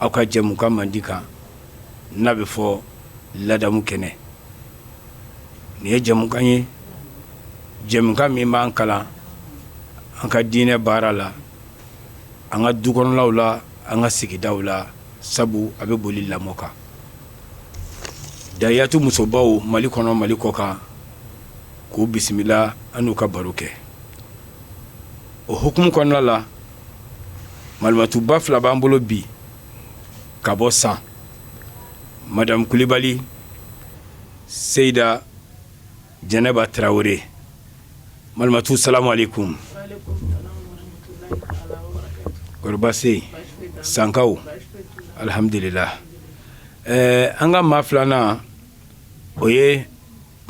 aw ka jɛmukan mandi kan n'a bɛ fɔ ladamu kɛnɛ nin ye jɛmukan ye jɛmukan min b'an kalan an ka diinɛ baara la an ka du kɔnɔlaw la an ka sigidaw la sabu a bɛ boli lamɔ kan daiyatu musobaw mali kɔnɔ mali kɔkan k'u bisimila an n'u ka baro kɛ o hukumu kɔnɔna la malimatuba fila b'an bolo bi ka bɔ san madamu kulibali seyida jɛnɛba tarawele malimatu salamu aleykum kɔri baasi sankaw alihamdulilahi an ka maa filanan o ye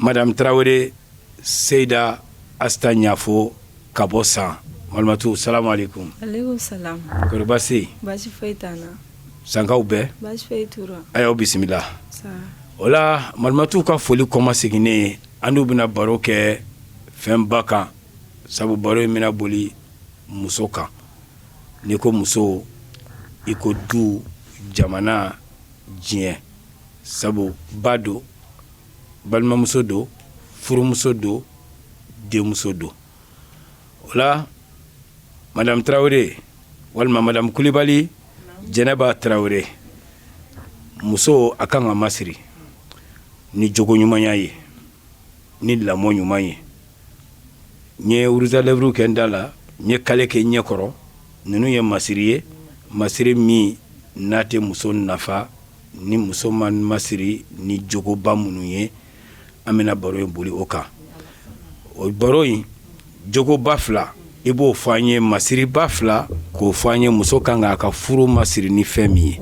madamu tarawele seyida asita ɲafo ka bɔ san malimatu salamu aleykum aleykum salam kɔri baasi ye baasi foyi t'an na sankaw bɛɛ baasi foyi t'u rɔ a y'aw bisimila o la malimatuw ka foli kɔmaseginnen an n'u bɛna baro kɛ fɛnba kan sabu baro in bɛna boli muso kan n'i ko muso i ko du jamana diɲɛ sabu ba don balimamuso don furumuso don denmuso don o la madamu tarawele walima madamu kulibali jɛnɛba tarawele muso a kan ka masiri ni jogo ɲumanya ye ni lamɔ ɲuman ye n ye rouge à lèvres kɛ n da la n ye kale kɛ ɲɛ kɔrɔ ninnu ye masiri ye masiri min n'a tɛ muso nafa ni muso ma masiri ni jogoba minnu ye an bɛna baro in boli o kan o baro in jogoba fila i b'o fɔ an ye masiriba fila k'o fɔ an ye muso ka kan a ka furu masiri ni fɛn min ye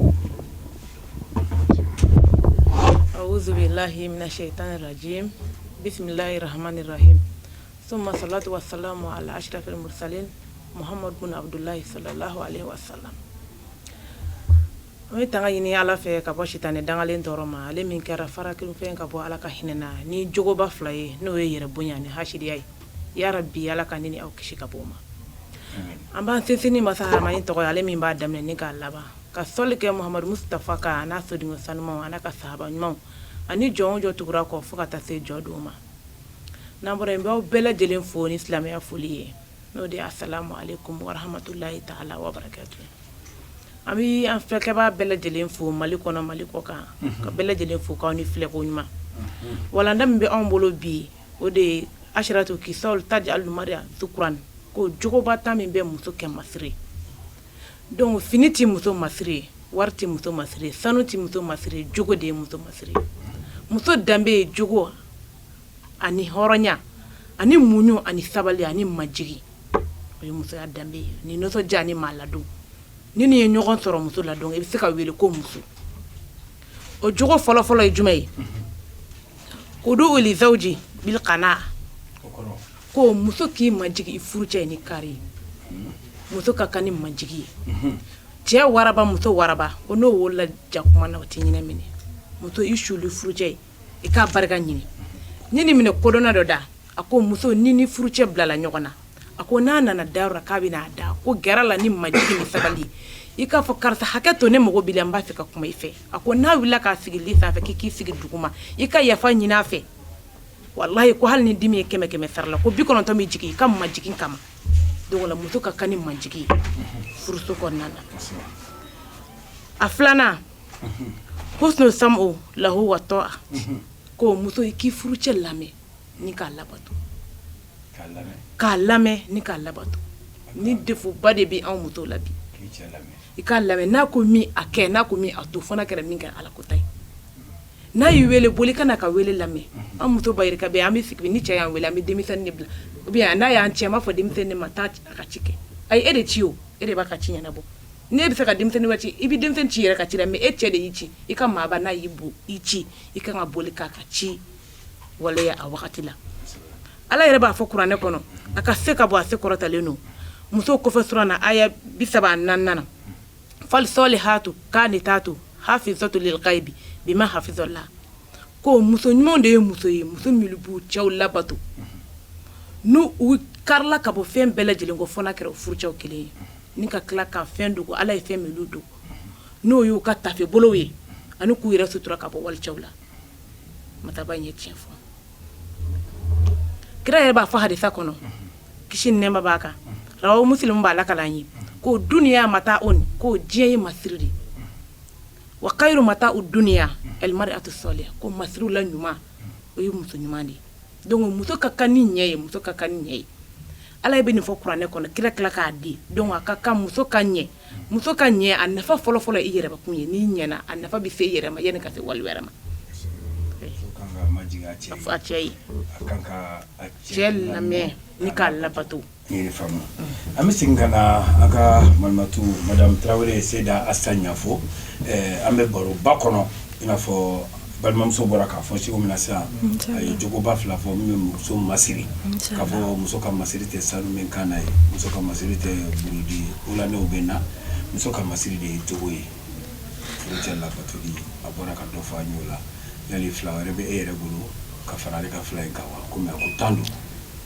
An bɛ tanga ɲini ala fɛ ka bɔ sitanɛ dangalen tɔɔrɔ ma ale min kɛra fara kelenfɛn ka bɔ ala ka hinɛ na ni jogoba fila ye n'o ye yɛrɛ bonya ni haya ye i ya bi ala ka n ni aw kisi ka b'o ma an b'an sinsin masa hama in tɔgɔ ale min b'a daminɛ ni k'a laban ka soli kɛ muhamadu musitafa kan n'a sɔrɔ dun sanuuma an'a ka sahaba ɲuman ani jɔn o jɔn tugu u kɔ fo ka taa se jɔ don ma n'an bɔra yen n b'aw bɛɛ lajɛlen fo ni silamɛya foli ye n'o de ye asalamu aleyikum warahamatulahi taala wabarakatu an bɛ an filɛkɛba bɛɛ lajɛlen fo mali kɔnɔ mali kɔ kan ka bɛɛ lajɛlen fo k'aw ni filɛko ɲuman walanda min bɛ anw bolo bi o de ye asaratu kisali ti alimariya kuran ko jogoba tan min bɛ muso kɛ masiri ye donfini tɛ muso masiri ye wari tɛ muso masiri ye sanu tɛ muso masiri ye jogo de ye muso masiri ye muso danbe ye jogo wa ani hɔrɔnya ani muɲu ani sabali ani majigin o ye musoya danbe ye ni nisɔndiya ni maa ladon ni nin ye ɲɔgɔn sɔrɔ muso la dɔrɔn i bɛ se ka wele ko muso o jogo fɔlɔfɔlɔ ye jumɛn ye o don o fɛnji kana ko muso k'i majigin i furucɛ ni kari ye muso ka kan ni majigin ye cɛ waraba muso waraba ko n'o wolola jakumaw tɛ ɲinɛ minɛ muso i suuli i furucɛ ye i k'a barika ɲini ne ni minɛ kodɔnna dɔ da a ko muso n'i n'i furucɛ bilala ɲɔgɔn na a ko n'a nana dayɔrɔ k'a b'a da ko gɛrɛ a la ni majigin ni sabali i k'a fɔ karisa hakɛ to ne mago b'i la n b'a fɛ ka kuma i fɛ a ko n'a wulila k'a sigi sanfɛ i k'i sigi duguma i ka yafa ɲinin a fɛ walayi ko hali ni dimi ye kɛmɛ kɛmɛ sara la ko bi kɔnɔntɔn bɛ jigin i ka majigin kama donc muso ka kan ni majigin furuso kɔnɔna na a filanan husunu samu lahu watɔa ko muso i k'i furucɛ lamɛn ni k'a labato k'a lamɛn ni k'a labato ni defoba de bɛ anw muso la bi i k'a lamɛn n'a ko min a kɛ n'a ko a to fo n'a kɛra min kɛ ala kota ye n'a y'i weele boli ka na ka weele lamɛn an muso ba ka an bɛ sigi ni cɛ y'an weele an bɛ denmisɛnnin bila u bɛ n'a y'an ci an b'a fɔ denmisɛnnin ma taa a ka ci kɛ a ye e de ci o e de b'a ka ci ɲɛnabɔ N'i b'a fɛ ka denmisɛnnin wɛrɛ ci, i bɛ denmisɛnnin ci i yɛrɛ ka ci la mais e cɛ de y'i ci, i ka maaba n'a y'i bon i ci, i ka kan ka boli k'a ka ci waleya a wagati la. Ala yɛrɛ b'a fɔ kuranɛ kɔnɔ, a ka se ka bon a se kɔrɔtalen don musow kofɔ sura na aya 34 nan. Falisolihatu kanitatu hafizatu lilgayibi bima hafizɔlaha ko muso ɲumanw de ye muso ye muso minnu b'u cɛw labato n'u b'u karila ka bɔ fɛn bɛɛ lajɛlen kɔ fo n'a kɛra u furucɛw kelen ye. Ni ka tila ka fɛn dogo ala ye fɛn minnu dogo n'o y'u ka tafe bolo ye ani k'u yɛrɛ sutura ka bɔ walicɛw la maaba ye tiɲɛ fɔ kira yɛrɛ b'a fɔ hadisi kɔnɔ kisi ni nɛɛma b'a kan o mu b'a la ka ye ko dunya mataau ko diɲɛ ye masiri de ye wa kayiru mataau dunya alimaratu sɔliha ko masiriw la ɲuman o ye muso ɲuman de ye donc muso ka kan ni nin ye muso ka kan ni nin ye Ala bɛ nin fɔ kuranɛ kɔnɔ kira tila k'a di dɔn a ka kan muso ka ɲɛ muso ka ɲɛ a nafa fɔlɔfɔlɔ i yɛrɛ kun ye n'i ɲɛna a nafa bɛ se i yɛrɛ ma yanni a ka se wali wɛrɛ ma cɛ lamɛn ni k'a labato an bɛ segin ka na an ka malimatu madamu tarawele ye seda a sa ɲɛfɔ an bɛ baroba kɔnɔ in n'afɔ balimamuso bɔra k'a fɔ cogo min na sa a ye jogoba fila fɔ min bɛ muso masiri ka fɔ muso ka masiri tɛ sanu min kan na ye muso ka masiri tɛ bɔrɔde u la bɛ na muso ka masiri de ye jogo ye cɛ labato a bɔra ka dɔ fɔ an ye o la yali fila wɛrɛ bɛ e yɛrɛ bolo ka fara ale ka fila in kan wa kɔmi a ko tan don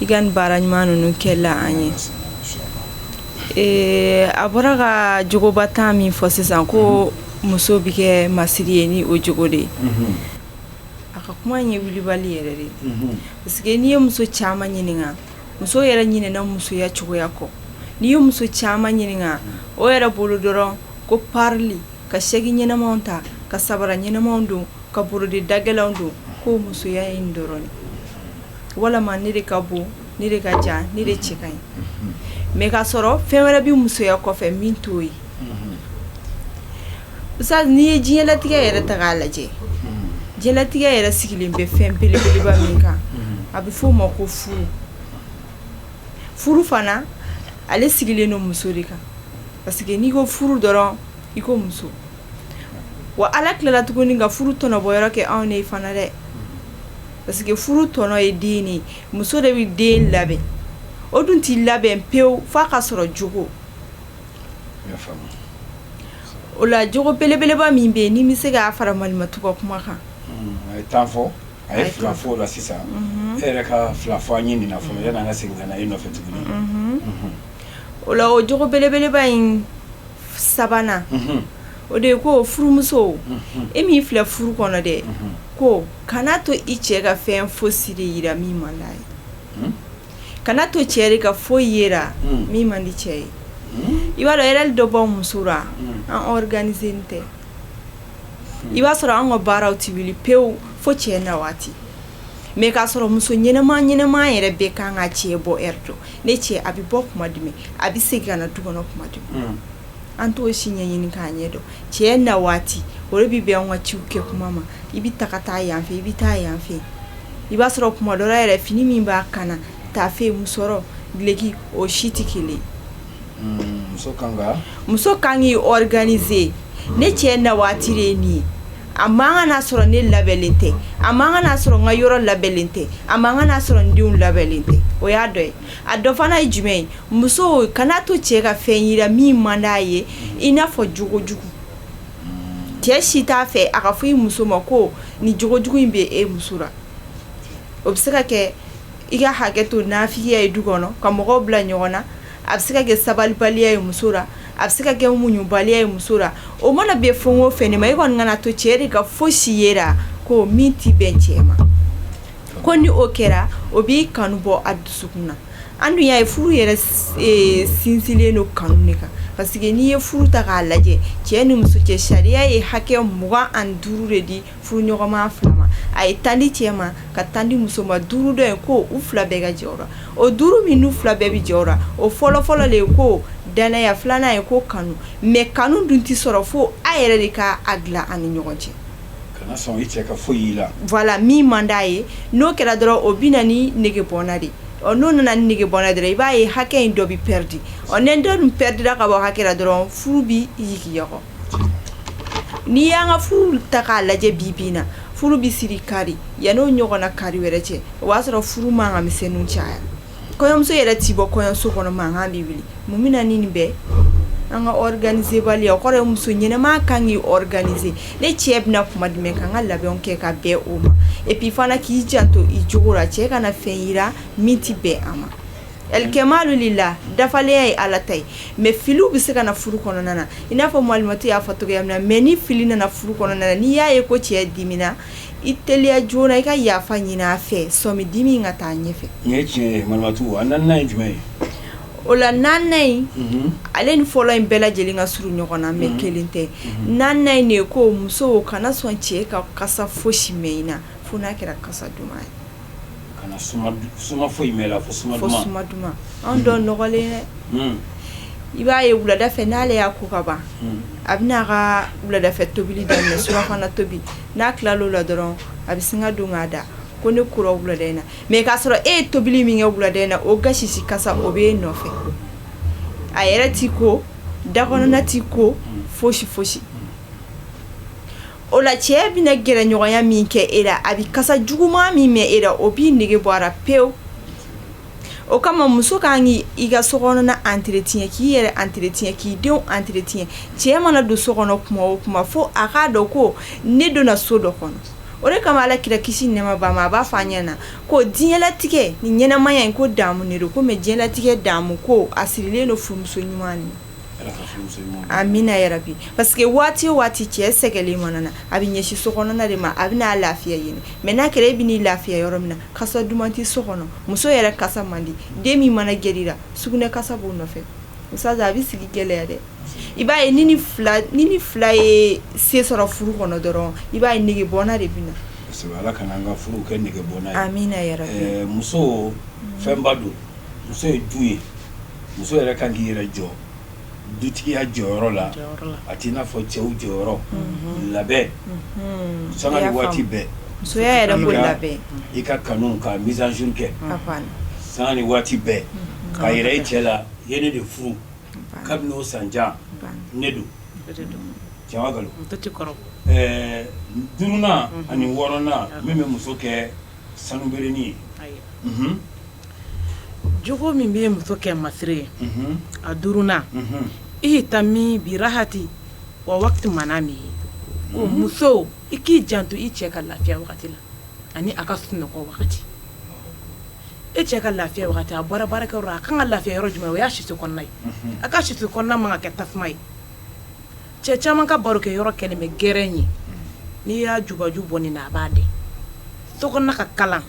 i ka nin baara ɲuman ninnu kɛ la an ye ee a bɔra ka jogoba tan min fɔ sisan ko muso bɛ kɛ masiri ye ni o jogo de ye a ka kuma ye wulibali yɛrɛ de parce que n'i ye muso caman ɲininka muso yɛrɛ ɲinɛna musoya cogoya kɔ n'i ye muso caman ɲininka o yɛrɛ bolo dɔrɔn ko parili ka saki ɲɛnamaw ta ka sabara ɲɛnamaw don ka bɔrɔde da gɛlɛnw don ko musoya in dɔrɔn walima ne de ka bon ne de ka jan ne de cɛ ka ɲi mɛ k'a sɔrɔ fɛn wɛrɛ bɛ musoya kɔfɛ min t'o ye sa n'i ye diɲɛlatigɛ yɛrɛ ta k'a lajɛ diɲɛlatigɛ yɛrɛ sigilen bɛ fɛn belebeleba min kan a bɛ f'o ma ko furu furu fana ale sigilen don muso de kan parce que n'i ko furu dɔrɔn i ko muso wa ala tilala tuguni ka furu tɔnɔ bɔyɔrɔ kɛ anw de fana dɛ parce que furu tɔnɔ ye den de ye muso de bɛ den labɛn o dun tɛ labɛn pewu fo a ka sɔrɔ jogo o la jogo belebeleba min bɛ yen ne bɛ se k'a fara malimatu ka kuma kan fɔ a fila fɔ la sisan e yɛrɛ ka fila fɔ an ɲini fɔlɔ ka segin nɔfɛ tuguni o la jogo belebeleba in sabanan o de ye ko furumuso e min filɛ furu kɔnɔ dɛ ko kana to i cɛ ka fɛn fosi ye i la min man di a ye kana to cɛ ka foyi ye i la min man di cɛ ye i b'a dɔn yɛrɛ dɔ b'an muso la an ɔriganizelen tɛ i b'a sɔrɔ an ka baaraw tɛ wuli pewu fo cɛ na waati mɛ k'a sɔrɔ muso ɲɛnama ɲɛnama yɛrɛ bɛ kan ka cɛ bɔ dɔn ne cɛ a bɛ bɔ kuma jumɛn a bɛ se ka na du kɔnɔ kuma jumɛn an t'o si ɲɛɲini k'a ɲɛdɔn cɛ na waati o de bɛ bɛn an ka ci kɛ kuma ma i bɛ taa ka taa yan fɛ i bɛ taa yan fɛ i b'a sɔrɔ kuma dɔ yɛrɛ fini min b'a kan na taafe musɔrɔ dulɔki o si tɛ kelen muso ka kan k'i organiser ne cɛ na waati de nin a man kan k'a sɔrɔ ne labɛnnen tɛ a man kan k'a sɔrɔ n ka yɔrɔ labɛnnen tɛ a man kan k'a sɔrɔ n denw labɛnnen tɛ o y'a dɔ ye a dɔ fana ye jumɛn ye muso kana to cɛ ka fɛn y'i la min man d'a ye i n'a fɔ jogojugu cɛ si t'a fɛ a k'a fɔ i muso ma ko nin jogojugu in bɛ e muso la o bɛ se ka kɛ i ka hakɛ to nafigiya ye du kɔnɔ ka mɔgɔw bila ɲɔgɔn na a bɛ se ka kɛ sabalibaliya ye muso la a bɛ se ka kɛ muɲubaliya ye muso la o mana bɛn fɛn o fɛn ma i kɔni kana to cɛ de ka fosi y'i la ko min tɛ bɛn cɛ ma ko ni o kɛra o b'i kanu bɔ a dusukun na an dun y'a ye furu yɛrɛ sinsinlen don kanu de kan parce que n'i ye furu ta k'a lajɛ cɛ ni muso cɛ sariya ye hakɛ mugan ani duuru de di furuɲɔgɔnma fila ma a ye tan di cɛ ma ka tan di muso ma duuru dɔ ye ko u fila bɛɛ ka jɛ a la o duuru min n'u fila bɛɛ bɛ jɛ a la o fɔlɔfɔlɔ de ye ko dannaya filanan ye ko kanu mais kanu dun tɛ sɔrɔ fo a yɛrɛ de k'a dilan a ni ɲɔgɔn cɛ voilà min man d'a ye n'o kɛra dɔrɔn o bɛ na ni nege bɔnna di ɔ n'o nana ni nege bɔnna di dɔrɔn i b'a ye hakɛ in dɔ bɛ pɛridi ɔ ni dɔ dun pɛridira ka bɔ hakɛ la dɔrɔn furu bɛ yigiyɔgɔ n'i y'an ka furu ta k'a lajɛ bi bi in na furu bɛ siri kari yan n'o ɲɔgɔnna kari wɛrɛ cɛ o b'a sɔrɔ furu mankan misɛnninw caya kɔɲɔmuso yɛrɛ tɛ bɔ kɔɲɔso kɔnɔ mankan bɛ wuli mun bɛ na ni nin bɛɛ an ka organiserbaliya o kɔrɔ ye muso ɲɛnama ka kan k'i organiser ne cɛ bɛna kuma jumɛn ka n ka labɛnw kɛ ka bɛn o ma et puis fana k'i janto i jogo la cɛ kana fɛn y'i la min tɛ bɛn a ma Kɛmadu de la dafalenya ye ala ta ye mais fili bɛ se ka na furu kɔnɔna na i n'a fɔ malimati y'a fɔ cogoya na mais ni fili nana furu kɔnɔna na n'i y'a ye ko cɛ dimina i teliya joona i ka yafa ɲini a fɛ sani dimi ka taa ɲɛfɛ o la nin ale ni fɔlɔ in bɛɛ lajɛlen ka surun ɲɔgɔn na mais kelen tɛ nin de ye ko muso kana sɔn cɛ ka kasa fosi mɛn i la fo n'a kɛra kasa duman ye kana suma du suma foyi mɛn i la fo suma duman fo suma duman unhun an dɔw nɔgɔlen dɛ hunn i b'a ye wulada fɛ n'ale y'a ko ka ban hunn a bi n'a ka wuladafɛ tobili daminɛ surafana tobi n'a tilal'o la dɔrɔɔn a bi sin ka don k'a da ko ne kora wulada in na mais k'a sɔrɔ e ye tobili min kɛ wulada in na o gasisi kasa o b'e nɔfɛ a yɛrɛ t'i ko da kɔnɔna t'i ko fosi fosi o la cɛ bɛna gɛrɛɲɔgɔnya min kɛ e la a bɛ kasa juguman min mɛn e la o b'i nege bɔ a la pewu o kama muso ka kan k' i ka so kɔnɔna entretien k'i yɛrɛ entretien k'i denw entretien cɛ mana don so kɔnɔ tuma o tuma fo a k'a dɔn ko ne donna so dɔ kɔnɔ o de kama ala kira kisi ni nɛɛma b'a ma a b'a fɔ a ɲɛ na ko diɲɛlatigɛ ni ɲɛnamaya in ko damu de don ko mɛ diɲɛlatigɛ damu ko a sirilen don furumuso ɲuman a bɛna yɛrɛ bi parce que waati o waati cɛ sɛgɛnnen mana na a bɛ ɲɛsin so kɔnɔna de ma a bɛ n'a lafiya yen mɛ n'a kɛra e bɛ n'i lafiya yɔrɔ min na kasa duman tɛ so kɔnɔ muso yɛrɛ kasa man di den min mana gɛrɛ i la sugunɛ kasa b'o nɔfɛ a bɛ sigi gɛlɛya dɛ i b'a ye ni nin fila ye se sɔrɔ furu kɔnɔ dɔrɔn i b'a ye negebɔ de bɛ na muso fɛnba don muso ye du ye muso yɛrɛ ka kan k'i yɛrɛ jɔ dutigiya jɔyɔrɔ la a t'i n'a fɔ cɛw jɔyɔrɔ la dɛ sanga ni waati bɛɛ la i ka kanu ka mise à jour kɛ sanga ni waati bɛɛ k'a yira i cɛ la i ye ne de furu kabini o san ja ne don jamakolon ɛɛ d ani wɔɔrɔnna min bɛ muso kɛ sanu bɛrɛ ye j min bɛ muso kɛ masiri ye a d ihtammi bi rahatihi wa wakti manamihi o muso i k'i jan to i cɛ ka lafiya la ani a ka sunɔgɔ wagati e cɛ ka lafiya a bɔra baara a ka kan ka lafiya yɔrɔ jumɛn o y'a siso kɔnɔ ye a ka siso kɔnɔna ma kɛ tasuma ye cɛ caman ka baro kɛ yɔrɔ kɛlen bɛ gɛrɛn ye n'i y'a jubaju bɔ nin na a b'a de so ka kalan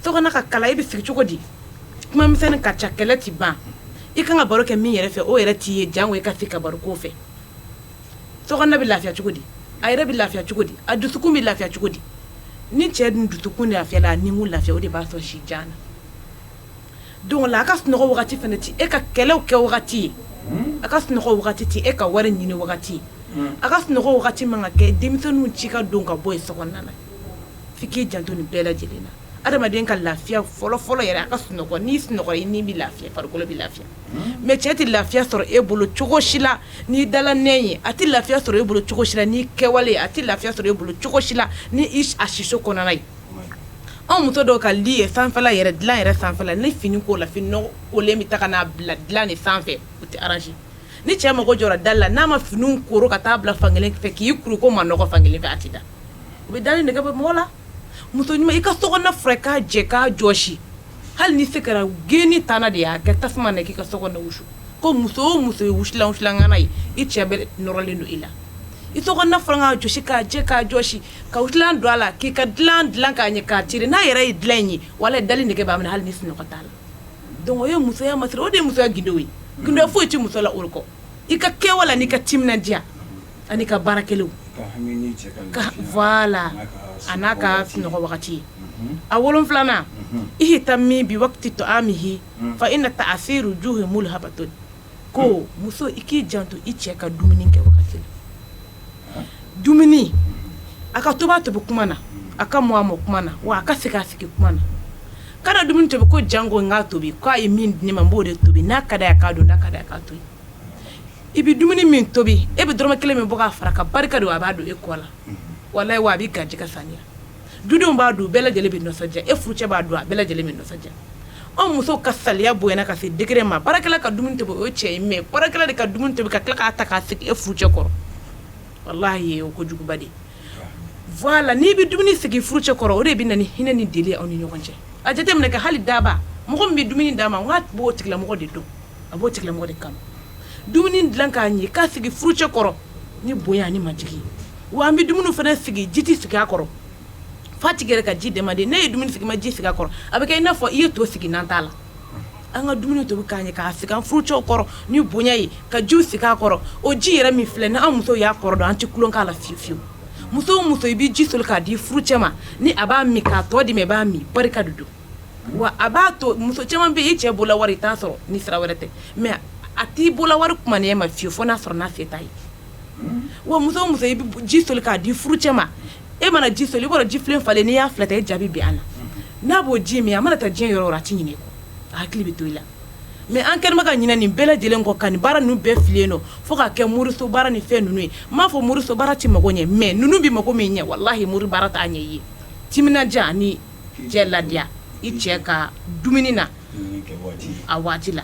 so kɔnɔna ka kalan i bɛ sigi cogo di kumamisɛn ka ca kɛlɛ tɛ ban i ka kan ka baro kɛ min yɛrɛ fɛ o yɛrɛ t'i ye jan ye ka se ka baro k'o fɛ so bɛ lafiya cogo di a yɛrɛ bɛ lafiya cogo di a dusu bɛ lafiya cogo di ni cɛ dun dusukun lafiyala ni lafiya o de b'a sɔrɔ si jan na don la a ka sunɔgɔ wagati fana tɛ e ka kɛlɛ kɛ wagati ye a ka sunɔgɔ wagati tɛ e ka wari ɲini wagati ye a ka sunɔgɔ wagati man ka kɛ denmisɛnninw ci ka don ka bɔ ye so na f'i k'i jan to nin bɛɛ lajɛlen na adamaden ka lafiya fɔlɔ fɔlɔ yɛrɛ a ka sun ni sun ni bɛ lafiya farikolo bɛ lafiya mɛ cɛ tɛ lafiya sɔrɔ e bolo cogo si la ni dilan ye a tɛ lafiya sɔrɔ e bolo cogo si la ni kɛwale a tɛ lafiya sɔrɔ e bolo cogo si la ni a siso kɔnɔna ye anw muso dɔw ka li ye sanfɛla yɛrɛ dilan yɛrɛ sanfɛ ni fini kola fini kolen bɛ taa n'a bila dilan in sanfɛ o tɛ arranger ni cɛ mago jɔra dalan na n'a ma fini kuru ka taa bila fankelen fɛ k'i kuru ko ma fankelen fɛ a tɛ da u bɛ da nege bɛ mɔgɔ la muso ɲuman i ka so furan k'a jɛ k'a jɔsi hali n'i se kɛra geni ta de y'a kɛ tasuma k'i ka so wusu ko muso muso ye wusulan kana ye i cɛ bɛ nɔrɔlen don i la i ka jɔsi k'a jɛ k'a jɔsi ka dila don a la k'i ka dilan dilan k'a ɲɛ k'a teri n'a yɛrɛ ye dilan in ye walahi dali nege b'a hali ni sunɔgɔ t'a la Dɔnku o ye musoya ma o de musoya gundo ye gundo foyi tɛ muso la o kɔ i ka kɛwale n'i ka timinandiya ani ka baara kɛlenw vwala a n'a ka sunɔgɔ wagati ye a wolonfilanan i ye ta min bi to min h fa i na taa a se jo ye' hato ko muso i k'i janto i cɛ ka dumuni kɛ dumuni a ka tobi a tobi kuma na a ka mɔ a mɔ kuma na wa a ka sigi a sigi kuma na ka dumuni to ko janko n'a tobi k'a ye min di ne ma b'o de tobi n'a ka ka don ka ka to i bɛ dumuni min tobi e bɛ dɔrɔmɛ kelen min bɔ k'a fara a kan barika don a b'a dun e kɔ la walahi a bɛ garijɛ ka san dudenw b'a dun bɛɛ lajɛlen bɛ nisɔndiya e furu cɛ b'a dun a bɛɛ lajɛlen bɛ nisɔndiya anw muso ka saliya bonyana ka se degere ma baarakɛla ka dumuni tobi cɛ in mɛ baarakɛla de ka dumuni tobi ka tila k'a ta k'a sigi e furu cɛ kɔrɔ walahi o ko juguba de vwala n'i bɛ dumuni sigi furu cɛ kɔrɔ o de bɛ na ni hinɛ ni deli aw ni ɲɔgɔn cɛ a jateminɛ kɛ hali daaba mɔgɔ min bɛ dumuni d'a ma n'a tun b'o tigila mɔgɔ de dɔn a b'o tigila mɔgɔ de kanu dumuni dilan k'a ɲɛ k'a sigi furu cɛ kɔrɔ ni bonya ni majigin wa an bɛ dumuni fana sigi ji tɛ sigi a kɔrɔ fa tigɛ ka ji dɛmɛ de n'i ye dumuni sigi i ma ji sigi a kɔrɔ a bɛ kɛ i n'a fɔ i ye to sigi na t'a la an ka dumuni tobi k'a ɲɛ k'a sigi an furu cɛw kɔrɔ ni bonya ye ka ji sigi a kɔrɔ o ji yɛrɛ min filɛ ni an muso y'a kɔrɔ dɔn an tɛ tulon k'a la fiyewu fiyewu muso muso i bɛ ji soli k'a di furu cɛ ma ni a b'a min k'a tɔ di i b'a min barika de don wa a b'a to muso caman bɛ i cɛ bolo wari i t'a sɔrɔ ni sira wɛrɛ tɛ mɛ a t'i bolo wari kuma e ma fiyewu fo n'a sɔrɔ n'a se t'a ye wa muso muso i bɛ ji soli k'a di furu cɛ ma e mana ji soli i b'a ji filen falen n'i y'a filɛ ten e ja bɛ bin a na n'a b'o ji min a mana taa diɲɛ yɔrɔ a tɛ ɲinɛ a hakili bɛ to i la mɛ an kɔni man kan ka ɲinɛ nin bɛɛ lajɛlen kɔ ka nin baara ninnu bɛɛ filen don fo k'a kɛ moriso baara ni fɛn ninnu ye n m'a fɔ moriso baara tɛ mɔgɔ ɲɛ mɛ ninnu bɛ mɔgɔ min ɲɛ walahi mori baara t'a ɲɛ i timinandiya ni cɛ ladiya i cɛ ka dumuni na a waati la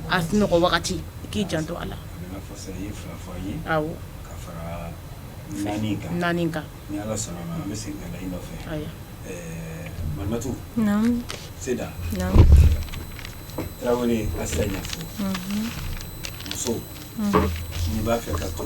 a sunɔgɔ wagati i k'i janto a la naani kan muso b'a fɛ ka to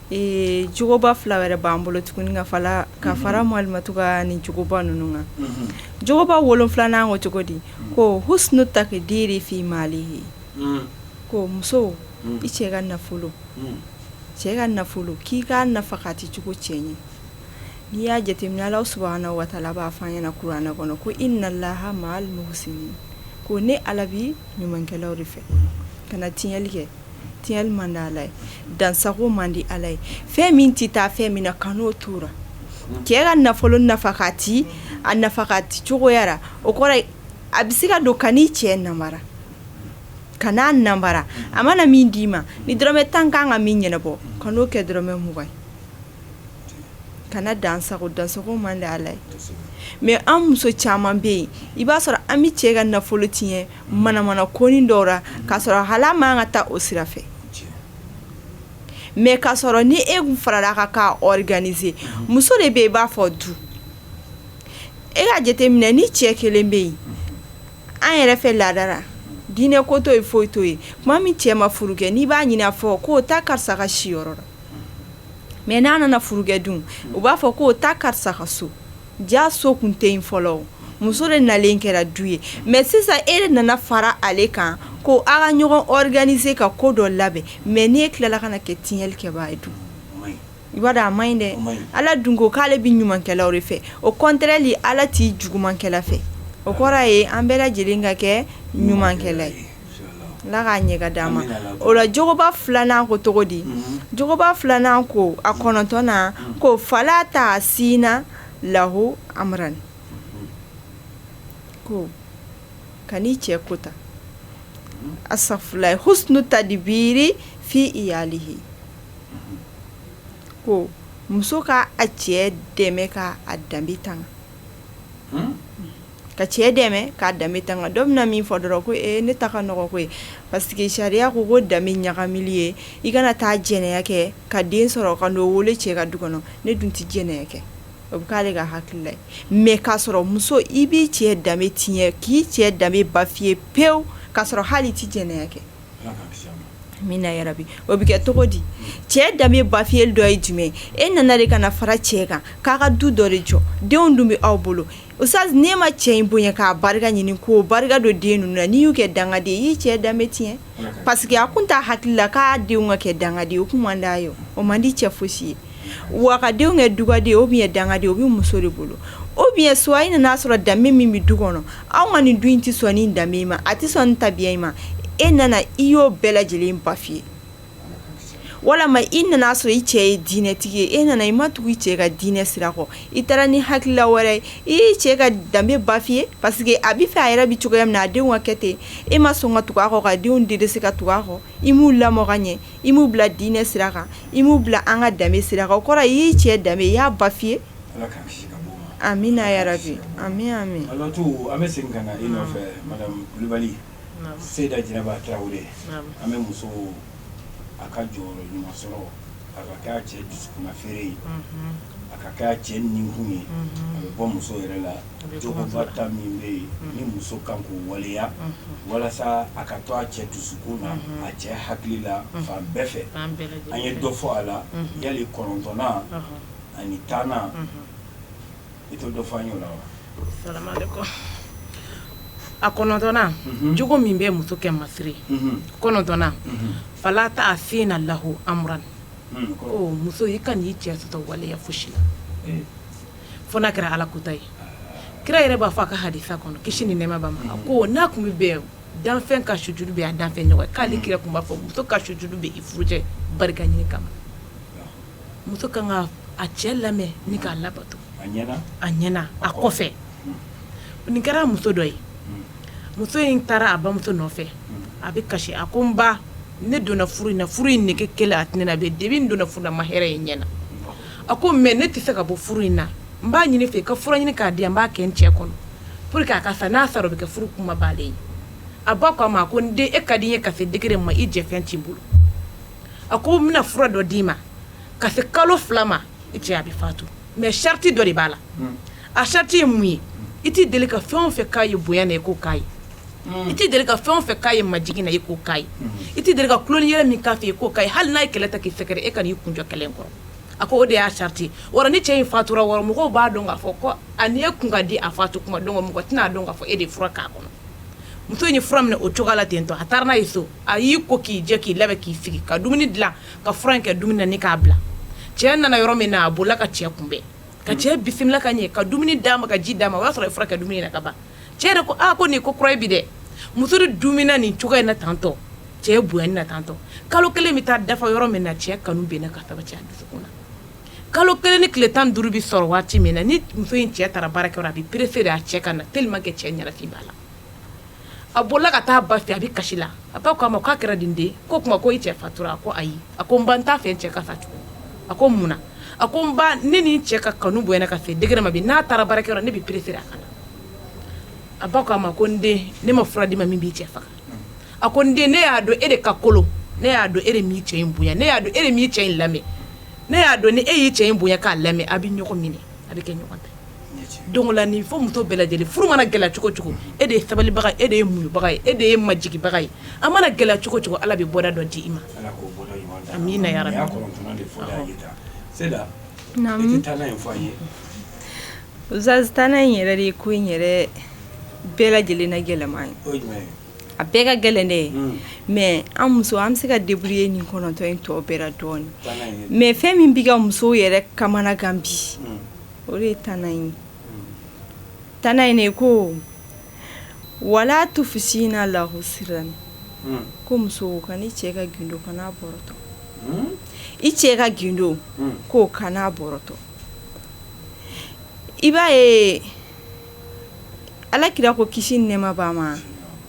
Ee jogoba fila wɛrɛ b'an bolo tuguni ka fara ka fara Malimatuu ka nin jogoba ninnu kan, unhun, jogoba wolonwulanan ko cogo di ko ko muso i cɛ ka nafolo, un, cɛ ka nafolo k'i k'a nafakati cogo cɛɲɛ n'i y'a jateminɛ Alahu subahana watala b'a fɔ an ɲɛna kurana kɔnɔ ko ko ne Ala bɛ ɲumankɛlaw de fɛ kana tiɲɛni kɛ tiɲɛli man di ala ye dansago man di ala ye fɛn min tɛ taa fɛn min na kan'o tora cɛ ka nafolo nafakati a nafakati cogoya ra o kɔrɔ a bɛ se ka don kan'i cɛ nanbara kan'a nanbara a mana min d'i ma ni dɔrɔmɛ tan ka kan ka min ɲɛnabɔ kan'o kɛ dɔrɔmɛ mugan ka dansago dansago man di ala ye mɛ an muso caman bɛ yen i b'a sɔrɔ an bɛ cɛ ka nafolo tiɲɛ manamana konin dɔw la k'a sɔrɔ hali a man kan ka taa o sira fɛ mɛ k'a sɔrɔ ni e tun farala a kan k'a ɔriganize muso de bɛ i b'a fɔ du e k'a jateminɛ ni cɛ kelen bɛ yen an yɛrɛ fɛ laada ra diinɛ ko to yen foyi to yen tuma min cɛ ma furu kɛ n'i b'a ɲinin a fɔ ko taa karisa ka siyɔrɔ la mɛ n'a nana furu kɛ dun u b'a fɔ ko taa karisa ka so Ja so tun tɛ yen fɔlɔ muso de nalen kɛra du ye mɛ sisan e de nana fara ale kan ko aw ka ɲɔgɔn ɔriganize ka ko dɔ labɛn mɛ ni e tilala ka na kɛ tiɲɛnli kɛbaa ye dun i b'a dɔn a man ɲi dɛ ala dun ko k'ale bɛ ɲumankɛlaw de fɛ o kɔntrɛli ala tɛ jugumankɛla fɛ o kɔrɔ ye an bɛɛ lajɛlen ka kɛ ɲumankɛla ye oba filanan ko cogo di jogoba filanan ko a kɔnɔntɔnnan ko fala taasina lahu amran ko kan'i cɛ kota a sa fila ye husnu tadbiiri fi iyalihi ko muso ka a cɛ dɛmɛ ka a danbe tan ka cɛ dɛmɛ k'a danbe tanga dɔ bɛna min fɔ dɔrɔn ko e ne ta nɔgɔ koyi parce que sariya ko ko danbe ɲagami ye i kana taa jɛnɛ kɛ ka den sɔrɔ ka den wolo cɛ ka du kɔnɔ ne dun tɛ jɛnɛ kɛ o bɛ k'ale ka hakilila mɛ k'a sɔrɔ muso i b'i cɛ danbe tiɲɛ k'i cɛ danbe bafiye pewu k'a sɔrɔ hali i tɛ jɛnɛ kɛ min yɛrɛ bi o bɛ kɛ cogo di cɛ danbe bafiyeli dɔ ye jumɛn e nana de ka fara cɛ kan k'a ka du dɔ de jɔ denw dun bɛ aw bolo O sisan n'e ma cɛ in bonya k'a barika ɲini ka barika don den ninnu n'i y'u kɛ dangaden i y'i cɛ danbe tiɲɛ paseke a tun t'a hakili la k'a denw ka kɛ dangaden o tun man d'a ye o man di cɛ foyisi ye wa a denw kɛ dugaden o bɛ dangaden o bɛ muso de bolo o bɛ so in n'i y'a sɔrɔ danbe min bɛ du kɔnɔ anw ka nin du in tɛ sɔn nin danbe ma a tɛ sɔn tabiya in ma e nana i y'o bɛɛ lajɛlen bafiye walima i nana sɔrɔ i cɛ ye diinɛtigi ye e nana i ma tugu i cɛ ka diinɛ sira kɔ i taara ni hakilila wɛrɛ ye i ye cɛ ka danbe bafouer parce que a b'a fɛ a yɛrɛ bɛ cogoya min na a denw ka kɛ ten e ma sɔn ka tugu a kɔ ka denw de de se ka tugu a kɔ i m'u lamɔ ɲɛ i m'u bila diinɛ sira kan i m'u bila an ka danbe sira kan o kɔrɔ y'i cɛ danbe i y'a bafouer a min yɛrɛ bi an bɛ seda jɛnɛba tarawele an bɛ muso a ka jɔyɔrɔ ɲuman sɔrɔ a ka kɛ a cɛ dusukunna feere ye a ka kɛ a cɛ nikun ye a bɛ bɔ muso yɛrɛ la jogoba tan min bɛ yen ni muso kan k'o waleya walasa a ka to a cɛ dusukun na a cɛ hakili la fan bɛɛ fɛ an ye dɔ fɔ a la yali kɔnɔntɔnnan ani tannan i t'o dɔ fɔ an y'o la wa salamalekum a kɔnɔntɔnnan mhm. jogo min bɛ muso kɛ masiri mhm. kɔnɔntɔnnan mhm. fala taasina lahu amuran ko muso i kan'i cɛ sɔsɔ waleya fosi la eh. fo n'a kɛra ala kuta ye kira yɛrɛ b'a fɔ a ka hadisa kɔnɔ kisi ni nɛɛma b'a ma a ko n'a kun bɛ bɛn danfɛn ka sujudu kɛ a danfɛn ɲɔgɔn ye k'ale kira kun b'a fɔ muso ka sujudu kɛ i furucɛ barika ɲini kama muso ka kan a cɛ lamɛn ni k'a labato a ɲɛna a kɔfɛ nin kɛra muso dɔ ye muso in taara a bamuso nɔfɛ a bɛ kasi a ko n ba ne donna furu in furu in nɛgɛge kelen a tɛna bɛ den donna furu la n ma hɛrɛ ye n ɲɛ na a ko mɛ ne tɛ se ka bɔ furu in na n b'a ɲini i fɛ i ka fura ɲini k'a di n b'a kɛ n cɛ kɔnɔ pour que a ka n'a sara o bɛ kɛ furu kuma bannen ye a ba ko a ma ko n den e ka di i ye ka degegɛrɛ ma i jɛfɛn' bolo a ko n bɛna fura dɔ d'i ma ka se kalo fila ma i cɛ a bɛ fatu mɛ sarati dɔ de b'a la a sarati ye mun ye i tɛ deli ka fɛn fɛn k'a ye bonya na i k'o k'a ye i tɛ deli ka fɛn fɛn k'a ye majigin na i k'o k'a ye i tɛ deli ka kuin yɛrɛ min k'a fɛ i ko ka hali n'a ye kɛlɛ ta k'i fɛɛrɛ e kan'i kun don kɛlɛ kɔrɔ a ko o de y'a sarati wa ni cɛ in fatura wɔɔrɔ mɔgɔw b'a dɔn k'a fɔ ko a' ni ɲɔgɔn ka di a fatu dɔn mɔgɔ tɛna'a dɔn k'a fɔ e de fura k'a kɔnɔ muso in ye fura minɛ o cogoya la ten to a taa n'a ye so a y'i ko k'i jɛ k'i labɛn k'i sigi ka dumuni dilan ka fura in kɛ dumuni na ni k'a bila cɛ nana yɔrɔ min na a bolila ka cɛ kunbɛn ka cɛ bisimila ka ɲɛ ka dumuni d'a ma ka ji d'a ma o y'a sɔrɔ fura kɛra dumuni na ka ban cɛ yɛrɛ ko aa ko nin ko kura bɛ dɛ muso de dummina nin cogoya in na tantɔ cɛ bonya na tantɔ kalo kelen bɛ taa dafa yɔrɔ min na cɛ kanu bɛ na ka sabati a dusukun na kalo kelen ni tile tan duuru bɛ sɔrɔ waati min na ni muso in cɛ taara baarakɛ a bɛ pressé de' a cɛ ka na teli kɛ cɛ ɲɛnafin b'a la a bolila ka taa ba fɛ a bɛ kasi la a ba k'a ma k'a kɛra di n den ko tuma ko i cɛ fatura a ko ayi a ko n ba n t'a fɛ n cɛ ka fa tugun a ko mun na a ko n ba ne ni n cɛ ka kanu bonyana ka se degré ma bi n'a taara baarakɛyɔrɔ ne bɛ pressé a ka na a ba k'a ma ko n den ne ma fura d'i ma min b'i cɛ faga a ko n den ne y'a dɔn e de ka kolon ne y'a dɔn e de m'i cɛ in bonya ne y'a dɔn e de m'i cɛ in lamɛn ne y'a dɔn ni e y'i cɛ in bonya k'a lamɛn a bɛ ɲɔgɔn minɛ a bɛ kɛ ɲɔgɔn ta ye don la ni fɔ muso bɛɛ lajɛlen furu mana gɛlɛya cogo cogo e de ye sabalibaga e de ye muɲubaga e de ye majigibaga ye a mana gɛlɛya cogo cogo ala bɛ bɔda dɔ di i ma tan in yɛrɛ de ye ko in yɛrɛ bɛɛ lajɛlen ne gɛlɛyama ye a bɛɛ ka gɛlɛn ne ye mɛ an muso an bɛ se ka deburuye nin kɔnɔntɔn in tɔ bɛɛ dɔɔnin mɛ fɛn min bɛ ka musow yɛrɛ kamanagan bi o de ye tan in tan in de ko wala tufusina lahu siran ko muso kan'i cɛ ka gundo kan'a bɔrɔtɔ i cɛ ka gundo ko kan'a bɔrɔtɔ i b'a ye ala kira ko kisi ni nɛɛma b'a ma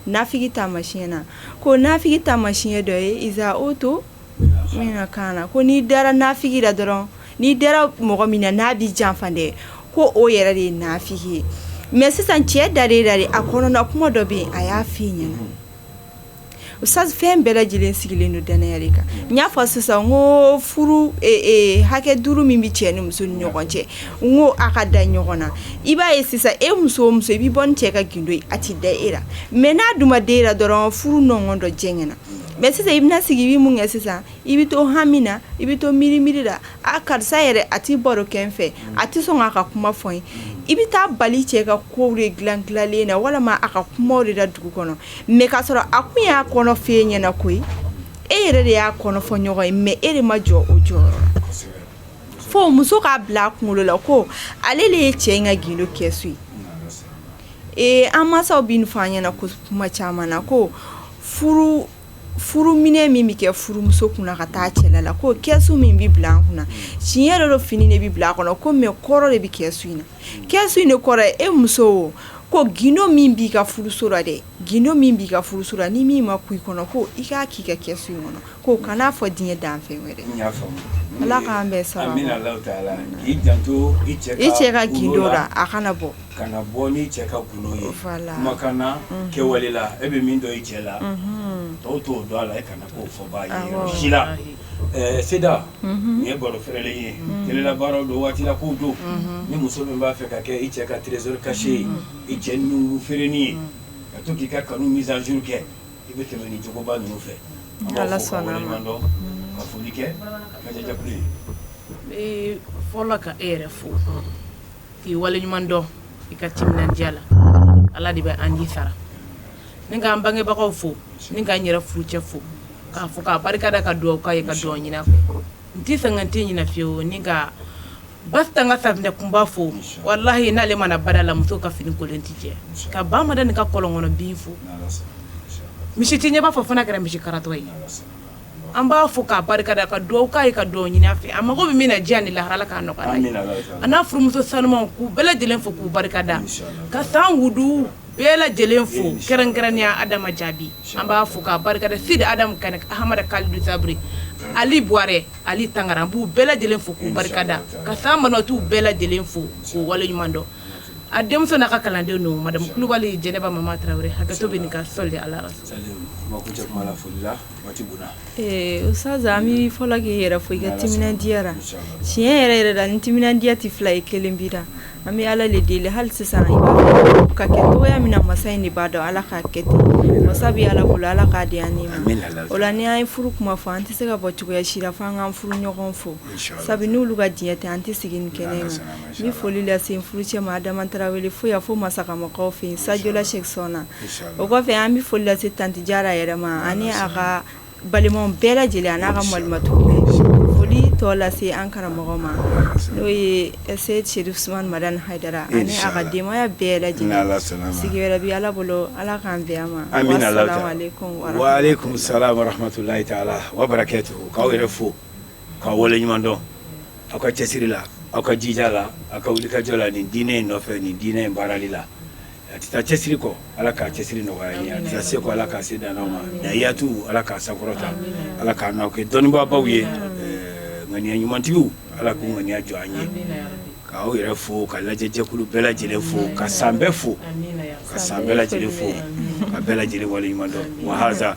naafigi taamasiyɛn na ko naafigi taamasiyɛn dɔ ye iza utumina kaana ko n'i dara naafigi la dɔrɔn N'i dara mɔgɔ min na n'a b'i janfa dɛ ko o yɛrɛ de ye naafigi ye mɛ sisan cɛ da de da de a kɔnɔna kuma dɔ bɛ yen a y'a fɔ i ɲɛna o sa fɛn bɛɛ lajɛlen sigilen don dannaya de kan n y'a fɔ sisan ko furu hakɛ duuru min bɛ cɛ ni muso ni ɲɔgɔn cɛ n ko a ka da ɲɔgɔn na i b'a ye sisan e muso muso i bɛ bɔ cɛ ka gundo a tɛ da e la mɛ n'a dun den dɔrɔn furu nɔn dɔ jɛ ɲɛna na mɛ sisan i bɛna sigi i bɛ mun kɛ sisan i bɛ to hami na i bɛ to miiri miiri la a karisa yɛrɛ a tɛ baro k'i fɛ a tɛ sɔn k'a ka kuma fɔ i ye i bɛ taa bal'i cɛ ka ko de dila dilanlen na walima a ka kuma de la dugu kɔnɔ mɛ k'a sɔrɔ a kun y'a kɔnɔ fɔ e ɲɛna ko e yɛrɛ de y'a kɔnɔfɔɲɔgɔn ye mɛ e de ma jɔ o jɔyɔrɔ fo muso k'a bila a kunkolo la ko ale de ye cɛ in ka gundo kɛsu ye ee an mansaw b'a fɔ an ɲɛna ko kuma caman na ko furu minɛn min bɛ kɛ furumuso kun ka taa cɛla la ko kɛsu min bɛ bila a kun tiɲɛ yɛrɛ dɔ fini de bɛ bila a kɔnɔ ko mɛ kɔrɔ de bɛ kɛsu in na kɛsu in de kɔrɔ e muso ko gundo min b'i ka furuso la dɛ gundo min b'i ka furuso la ni min ma i kɔnɔ ko i k'a k'i ka kɛsu in kɔnɔ ko kan'a fɔ diɲɛ danfɛn wɛrɛ hali k'i bɛ sa i cɛ ka gundo la a kana bɔ kana bɔ n'i cɛ ka gundo ye kumakan na kɛwale la e bɛ min dɔn i cɛ la tɔw t'o dɔn a la e kana na k'o fɔ si la seda nin ye baro fɛrɛlen ye kɛlɛlabaa don waati k'u don ni muso min b'a fɛ ka kɛ i cɛ ka trésor caché ye i cɛ ninnu feerein ye ka to k'i ka kanu mise à jour kɛ i bɛ tɛmɛ ni cogoba ninnu fɛ dɔn ka foli kɛ ka ye fɔ ka e yɛrɛ fo k'i waleɲuman dɔn i ka timinadiya la ala de bɛ an ji sara ni ka an bangebagaw fo ni ka n yɛrɛ furu cɛ fo k'a fo k'a barika da ka dugawu k'a ye ka dugawu ɲini a fɛ n tɛ san tɛ ɲin fiye o ni ka ba tan ka tainɛ kunba fo walahi n'ale mana baara la muso ka fini kolon tɛ cɛ ka ba mada nin ka kɔlɔn kɔnɔ bin fo misi tɛ ɲɛ b'a fɔ fana kɛra misi karatɔ ye an b'a fo k'a barika da ka dugawu k'a ye ka dugawu ɲini a fɛ a mago bɛ min na diɲɛ ni lahara Ala k'a nɔgɔya a ye, amina yarabi, a n'a furumuso sanumanw k'u bɛɛ lajɛlen fo k'u barika da, insalawu, ka san wuduw bɛɛ lajɛlen fo insalawu, kɛrɛnkɛrɛnnenya Adama Jaabi an b'a fo k'a barika da Sidi Adamu Kanɛ Ahamada Kalilu Sabiri Ali Buwarɛ Ali Tangara an b'u bɛɛ lajɛlen fo k'u barika da insalawu, ka san banbatiw bɛɛ lajɛlen fo k'u waleɲuman dɔn a denmuso n'a ka kalandenw don madamu Kulubali Jɛnɛba Mama Tarawele hakɛto bɛ nin kan sɔli Ala rasuli salimu, kuma kuncɛ kuma la foli la bɛ fo k'i yɛrɛ fo i ka timinadiya la tiɲɛ yɛrɛ yɛrɛ la ni timinadiya tɛ fila ye kelen bila an bɛ ala de deli hali sisan ka kɛ dɔgɔya min masa in de b'a dɔn ala ka kɛ masa bɛ ala bolo ala k'o di ne ma o la ni y' ye furu kuma fɔ an tɛ se ka bɔ cogoya si la fo an ka furu ɲɔgɔn fo sabu n'olu ka diɲɛ tɛ an tɛ sigi nin kɛnɛ ma ni foli lase furu cɛ ma adama tarawele fo fo masa makankaw fɛ sajla sɛsɔn na o kɔfɛ an bɛ foli lase tanteja yɛrɛ ma ani a ka balimaw bɛɛ lajɛlen an' ka malima foli tɔ lase an karamɔgɔ ma n'o ye ɛse serifu usmani madani hayidara ani a ka denbaya bɛɛ lajɛlen sigi wɛrɛ bɛ ala bolo ala k'an bɛn ma an bɛ sahaurulayi'aw yɛrɛ fo k'aw waleɲuman dɔn aw ka cɛsiri la aw ka jija la aw ka wulikajɔ la nin diinɛ in nɔfɛ nin diinɛ in baarali la a tɛ taa cɛsiri kɔ ala ka cɛsiri nɔgɔya aw ye a tɛ taa se kɔ ala ka se d'an ma a yatu ala k'a sankɔrɔta ala k'an n'aw kɛ dɔnnibaabaw ye ŋaniya ɲumantigiw ala k'u ŋaniya jɔ an ye k'aw yɛrɛ fo ka lajɛ jɛkulu bɛɛ lajɛlen fo ka san bɛɛ fo ka san bɛɛ lajɛlen fo ka bɛɛ lajɛlen waleɲuman dɔn waha